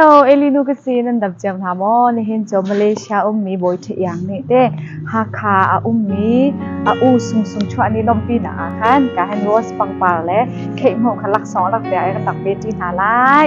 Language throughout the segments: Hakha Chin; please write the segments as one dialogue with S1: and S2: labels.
S1: Hello, Elinu ka si nan dam ciam hna maw? Nihin cu Malaysia ummi bawi ṭha iang nih te Hakha a ummi a u sung sung chuah ni lompi nak ah khan ka han rose pangpar le kheih hmuh kha laksawng lak bia ai ka tak ve ṭi hna lai.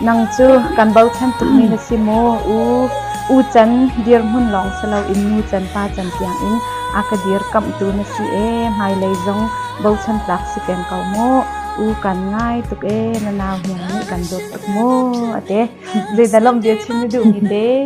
S1: Nang cu kan bochan tukmi na si maw? U U Can dirhmun lawng si loin nu can pa can tiangin a ka dirkamhtu na si ee. Hmailei zong bochan tlak si peng ko mu. U kan ngai tuk ee. Na nau hniang nih kan dawt tuk mu a ti. Zeidang lawmh bia chim na duhmi te?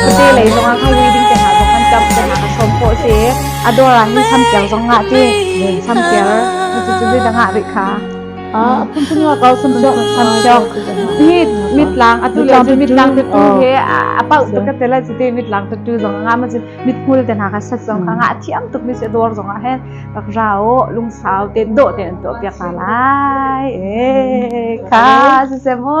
S1: Catelei zongah khan reading te hna zong kan ṭamh te hna ka sawm khawh a si i a dawr ah hin sampiar zong ngah ti sampiar cucu bidang ah rih kha. Ah, phunphun wa kau sampiak. Sampiak. Hi mitlang atu le cu mitlang tattu he a pau tuk ka tela cu te mitlang tattu zong nga ma cun mit hmul te hna ka sat zong ka nga a thiam tuk mi se dawr zong ah hen tak rao lungsau te do te an to piak ka lai e kha se se mo